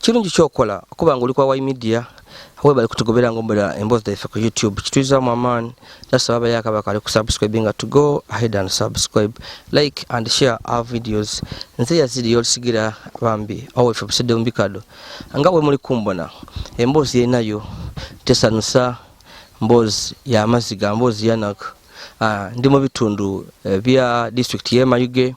Kirungi kyokola okuba nga oli kwa Y Media webale kutugobera nga ombera emboozi zaife ku YouTube kituyizamu amaani nasaba abayo akaba kali ku subscribe nga to go ahead and subscribe like and share our videos nze yazidi yolisigira bambi awo ife busedde mu bikado nga bwe muli kumbona emboozi yenayo tesanusa mboozi ya maziga mboozi yanaku uh, ah, ndi mu bitundu uh, bya district yemayuge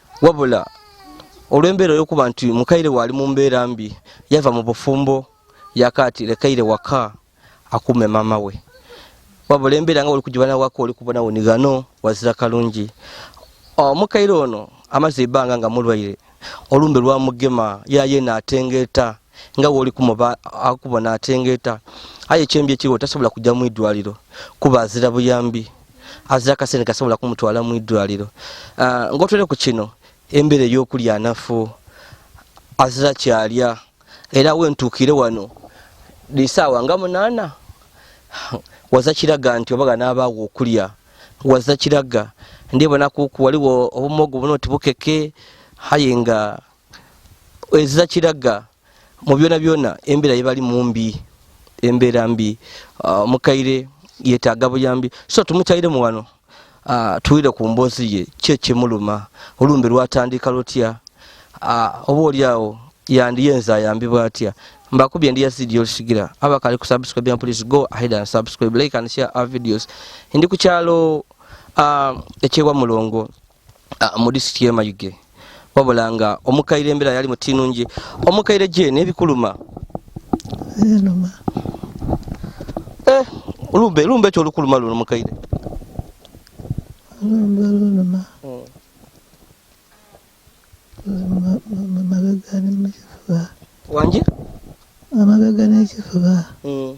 wabula olw'embeera y'okuba nti mukaire waali mu mbeera mbi yava mu bufumbo yakaati lekaire waka akuume maama we wabula embeera nga oli kugibana waka oli kubona wenigano wazira kalungi omukaire ono amaze ebanga nga mulwaire olumbe lwamugema yaye natengeeta nga woli kumuba akubona atengeta aye kyembi ekiriwo tasobola kujja mu idwaliro kuba azira buyambi azira kasente kasobola kumutwala mu idwaliro ah, ngotwere ku kino embeera eyokulya anafu azira kyalya era wentuukire wano lisaawa nga munaana waza kiraga nti obaga n'abaawo okulya waza kiraga ndibona kuku waliwo obumogo buno tibukeke haye nga eza kiraga mu byona byona embeera yebali mumbi embeera mbi uh, mukaire yetaaga buyambi so tumukyayire mu wano uh, tuwire ku mboozi ye kye kimuluma olumbe lwatandika lutya uh, oba oli awo yandiyenza ayambibwa atya mbakubye ndi yazidi yolisigira abakali ku subscribe ya please go ahead and subscribe like and share our videos ndi ku kyalo uh, ekyewa mulongo ah, mu disitulikiti y'e Mayuge wabula nga omukaire embeera yali mutinungi omukaire gye n'ebikuluma zinuma eh, lumbe lumbe ekyo olukuluma luno mukaire lumbe luluma hmm. mabega ne mukifuba wangi amabega n'ekifuba hmm.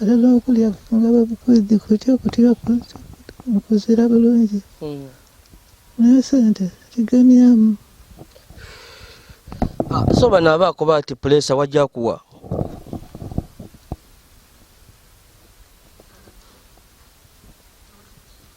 era n'okulya nga babukwiddi kutya okutira mukuzira bulungi hmm. naye sente kigamyamu ah, so bano abaakuba ati pulesa wajja kuwa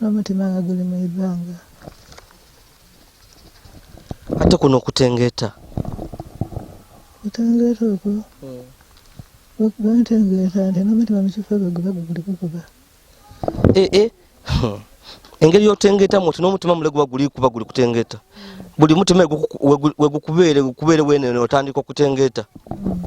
N'omutima nga guli mu ibanga. Ate kuno okutengeeta. Okutengeeta okwo. Hmm. Bwentengeeta nti n'omutima mu kifo gwe guba guguli gukuba. Ee. Eh, eh. hmm. Engeri y'otengeetamu nti n'omutima mule guba guli kuba guli kutengeeta. Buli mutima wegukubeere gukubeere weenene otandika okutengeeta. Hmm.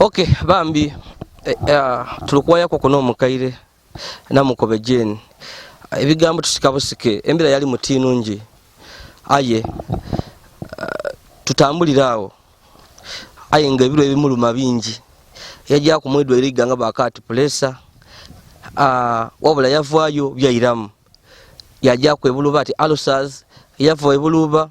Okay, bambi eh, eh, tulikuwayako kuno omukaire namukobe jeni ebigambo tusika busike embera yali muti nungi aye eh, tutambulira awo aye nga ebiro ebimuluma bingi yajja kumwidwa eri ganga bakati pulesa ah, wabula yavaayo byayiramu yajja kwebuluba ati alusas yava ebuluba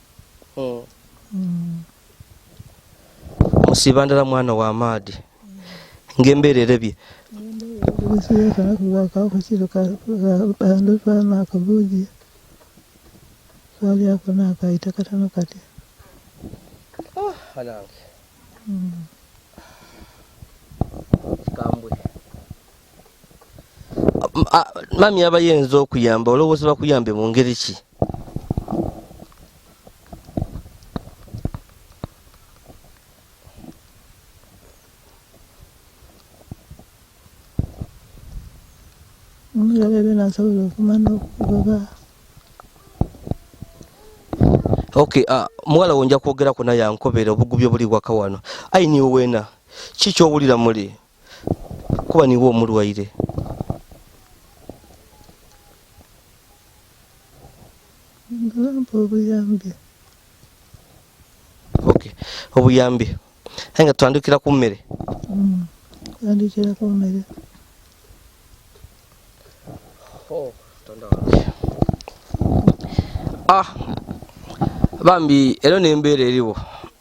musiba ndala mwana wa maadi ng'embeera erebye akabuzi kalyako nakayita katano kati ah, kambwe mami aba yenza okuyamba olowooza bakuyambe mu ngeri ki okay uh, muwala wonja kwogerako naye ankobera obugubi obuli waka wano ainiwena kikyowulira muli kuba niwe omulwaire obuyambi aye nga tutandikira ku mmere mm, tutandikira ku mmere oh, ah bambi ero nembeera eriwo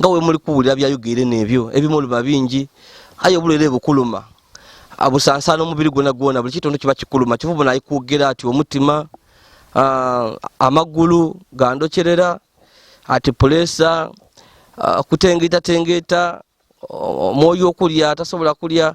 nga we muli kuwulira byayogere nebyo ebimu oluba bingi aye obulwere bukuluma abusansaana omubiri gwona gwona buli kitundu kiba kikuluma kiva bona ayikwogera ati omutima uh, amagulu gandocerera ati pulesa uh, ah, kutengeetatengeta omwoyo okulya tasobola kulya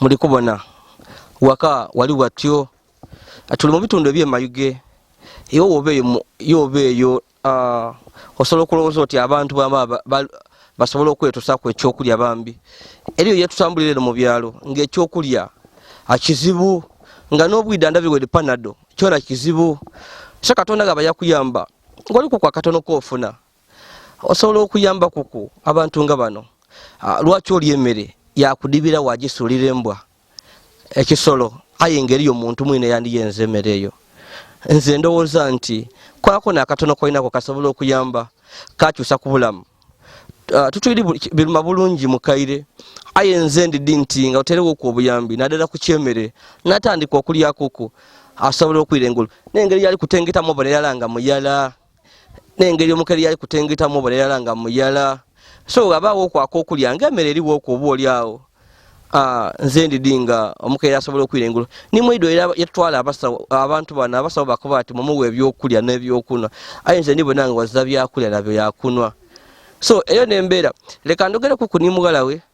muli kubona waka wali watyo tuli mu bitundu ebyemayuge ewo woba eyo yoba eyo ah, osobola okulowooza oti abantu bama basobola okwetusaku ekyokulya bambi eriyo yetutambulira eno mu byalo ngaekyokulya akizibu nga n'obwida ndabiwede panado kyona kizibu so katonda nga bayakuyamba ngolikuku akatono kofuna osobola okuyamba kuku abantu nga bano ah, lwaki oli emere yakudibira wagisulira embwa ekisolo aye engeri yo muntu mwine yandiyenza emere eyo nze ndowooza nti kwako nakatono kolinako kasobola okuyamba kakyusa kubulamu ah, tutuli biruma bulungi mukaire aye nze ndidi nti nga oterewo ku obuyambi nadala kukyemere natandika okulyakuku asobola okwira engulu nengeri yali kutengetamu oboneyalanga muyala nengeri omukeri yali kutengetamu obulerala nga muyala so abaawo okwaka okulya nga emere eriwo okwo oba oli awo ah, nze ndidi nga omukeri asobola okwira engulo nimwido era yatwala abantu bano abasawo bakuba ati mumuwa ebyokulya nebyokunwa aye nze ndibonanga waza byakulya nabyo yakunwa so eyo nembeera leka ndogereku kunimugalawe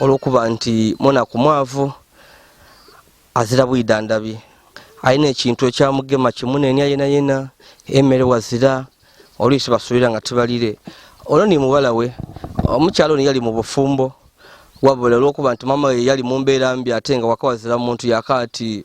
olwokuba nti mwana ku mwavu azira bwidandabi alina ekintu ekyamugema kimunenya yena yena emere wazira oluisi basulira nga tibalire olwo ni muwala we omukyalo ni yali mu bufumbo wabula olwokuba nti mama we yali mu mbeera mbi ate nga wakawazira muntu yakaati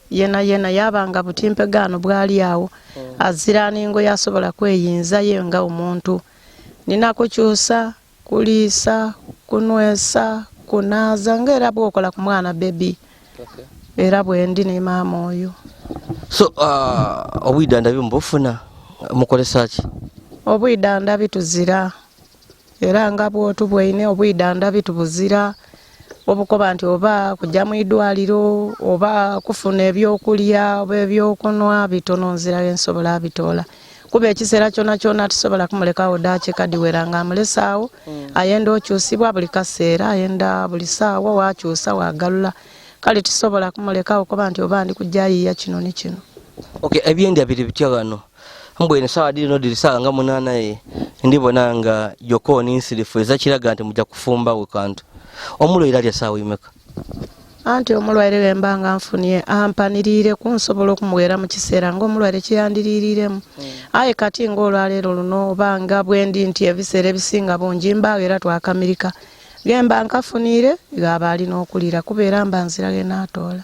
yena yena yaba nga butimpegaano bwali awo oh. azira ningo yasobola kweyinza ye nga omuntu nina kukyusa kuliisa kunwesa kunaaza nga era bwokola ku mwana bebi era bwendi ne maama oyo so uh, obwidandabi mubufuna mukolesaki obwidandabi tuzira era nga bwotu bwaine obwidandabi tubuzira obukoba nti oba kujja mu idwaliro oba kufuna ebyokulya oba ebyokunwa bitono nzirayo ensobola abitoola kuba ekiseera kyona kyona tusobola kumulekawo dakiika diwera nga amulesaawo mm. ayenda okyusibwa buli kaseera ayenda buli saawa wakyusa wagalula kale tusobola kumulekawo kuba nti oba ndi kujja yiya kino ni kino okay ebyendya biri bitya wano mbu eno sawa diri no diri sawa nga munana ye ndi bona nga yoko ni nsirifu eza kiraga nti muja kufumba we kantu omulo ira lya sawa imeka anti omulwaire bwe mba nga nfunye ampaniriire ku nsobola okumuweera mu kiseera ng'omulwaire kyeyandiriiriremu hmm. aye kati ng'olwaleero luno oba nga bwendi nti ebiseera ebisinga bungi mbaawo era twakamirika gemba nkafuniire gaaba alina okuliira kubeera mba nzirage naatoola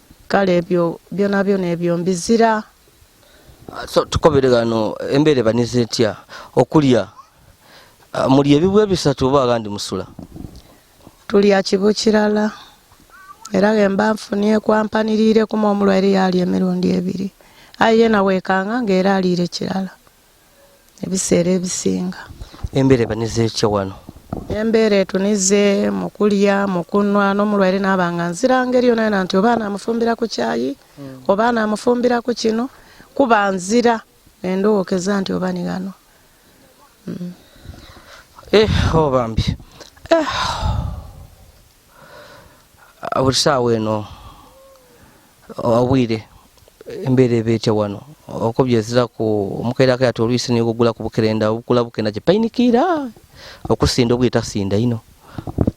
kale ebyo byona byona ebyo mbizira ah, so tukobere gano embere banize etya okulya ah, muli ebibwe bisatu oba agandi musula tulya kibu kirala era gemba nfunye kwampanirire kuma omulwaire yali emirundi ebiri aye yena wekanga nga era aliire kirala ebiseera ebisinga. Embeera ebaniza etya wano? Embeera etunize mu kulya, mu kunwa n'omulwaire n'aba nga nzira ngeri yona yona nti oba anaamufumbira ku kyayi hmm. oba anaamufumbira ku kino kuba nzira endowookeza nti oba ni gano. Hmm. Eh, oh bambi. Eh. buli saawa eno obwire embeera eba etya wano okubyezira ku omukeerako yati olwisi naye ogugula ku bukerenda obukula bukenda gye payinikiira okusinda obwire tasinda ino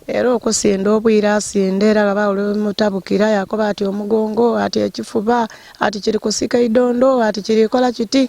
era okusinda obwire asinda era baba olumutabukira yakoba ati omugongo ati ekifuba ati kiri kusika idondo ati kirikola kiti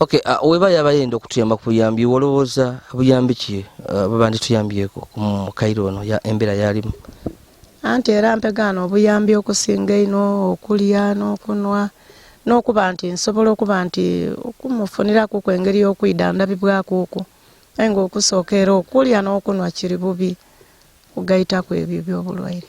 Okay, uh, weba yaba yenda okutuyamba ku buyambi wolowooza buyambi ki uh, bwebandi tuyambyeko mu kairo ono ya embeera yalimu anti era mpegaano obuyambi okusinga ino okulya n'okunwa n'okuba nti nsobola okuba nti okumufuniraku ku engeri y'okwida ndabibwaku oku naye ngaokusooka era okulya n'okunwa kiri bubi kugayitaku ebyo ebyobulwaire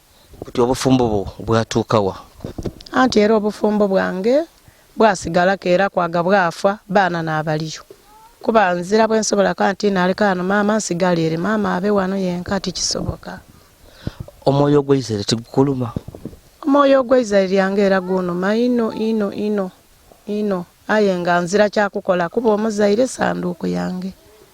Kati obufumbo bwo bwatuukawa? Anti era obufumbo bwange bwasigalako era kwaga bwafa baana n'abaliyo kuba nzira bwe nsobola ka nti naleka wano maama nsigala eri maama abe wano yenka tikisoboka. Omwoyo gw'Isiraeri tigukuluma? Omwoyo gw'Isiraeri yange era gunuma ino ino ino ino aye nga nzira kyakukola kuba omuzaire sanduuku yange.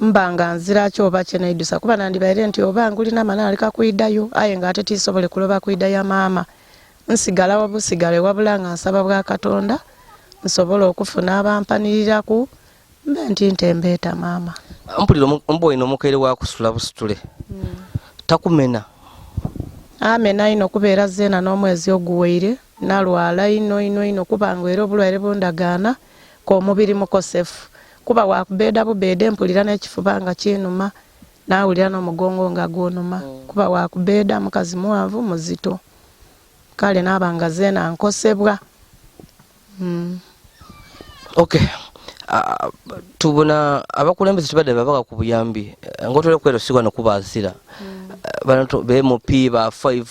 mba nga nziraki oba kyenaidusa kuba nandibaire nti oba ngulina mani aleka kuidayo aye nga ate tisobole kuloba kuida ya maama nsigala wabusigale wabula nga nsaba bwa katonda nsobole okufuna abampaniriraku mbe nti ntembeeta maama mpulira omuba olina omukaire wakusula busitule hmm. takumena amena ino kubeera zeena n'omwezi oguwaire nalwala ino ino ino kubanga era obulwaire bundagaana k'omubiri mukosefu kuba wakubeeda bubeede mpulira n'ekifuba nga kinuma nawulira n'omugongo nga gunuma mm. kuba wakubeeda mukazi muwanvu muzito kale naaba nga zeena nkosebwa mm. okay uh, tubona abakulembeze tubadde babaka ku buyambi eh, ngotole kwero sigwa nokuba azira mm. uh, bano be mupi ba five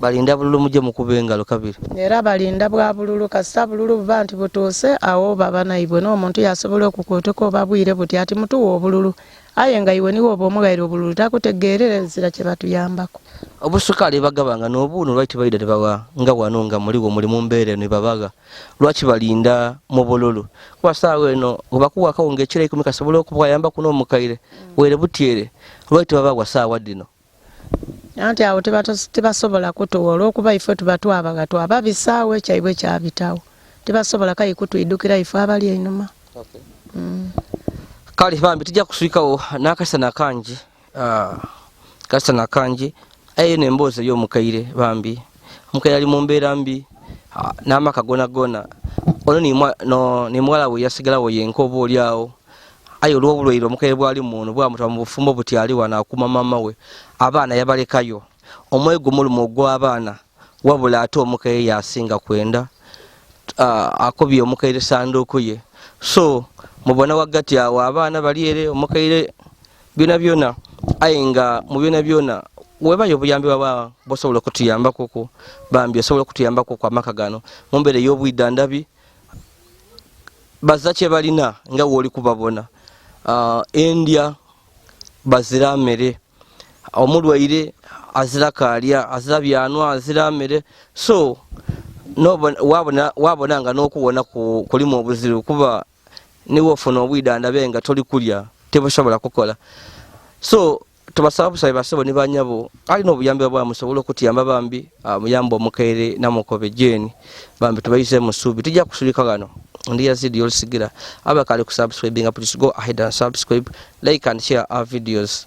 Balinda bululu muje mukube engalo kabiri. Era balinda bwa bululu kasita bululu buba nti butuuse awo baba naibwe n'omuntu yasobola okukuutuka oba bwire buti ati mutuwa obululu aye nga iwe niwe oba omughaire obululu takutegeerera ezira kye batuyambako. Obusukaali bagabanga n'obuuno lwaki tebaida ne bawa nga wano nga muliwo muli mu mbeera eno ebabagha lwaki balinda mu bululu kuba saawa eno webakuwa akawunga ekiro ikumi kasobola okubwayambaku n'omukaire were butyere lwaki tebabagwa saawa dino anti awo tebasobola kutuwa olwokuba ife tuba twabaga twaba bisaawo ekyaibwe kyabitawo tebasobola kayi kutwidukira ife abali einuma okay. mm. kale bambi tujja kuswikawo nakasana kangi uh, ah, kasana kangi ayo nemboozi eyomukaire bambi omuka yali mu mbeera mbi ah, n'amaka gona gona ono nemuwala we yasigalawo yenka oba oli awo aye olw'obulwaire omukere bwali muno bwamuta mu bufumbo butyali wano akuuma maama we abaana yabalekayo omwoyo gumuluma ogw'abaana wabula ate omukere yasinga kwenda ah, akobye omukere sanduuku ye so mubona waggati awo abaana bali ere omukere byona byona aye nga mu byona byona webayo obuyambi baba bosobola okutuyambakuku bambi osobola okutuyambakuku amaka gano mumbeera ey'obwidda ndabi baza kye balina nga wooli kubabona uh, endya bazira mere omulwaire azira kaalya azira byanwa azira mere so wabona nga n'okuwona kulimu obuzibu kuba niwe ofuna obwida ndabe nga toli kulya tebusobola kukola so tubasaba busabe basebo ne banyabo alina obuyambi bwa musobola okutiyamba bambi ah, muyamba omukaire namukobe jeni bambi tubayize musubi tujja kusulika gano ndi yazidi yolisigira abakali kusubscribinga please go ahead and subscribe like and share our videos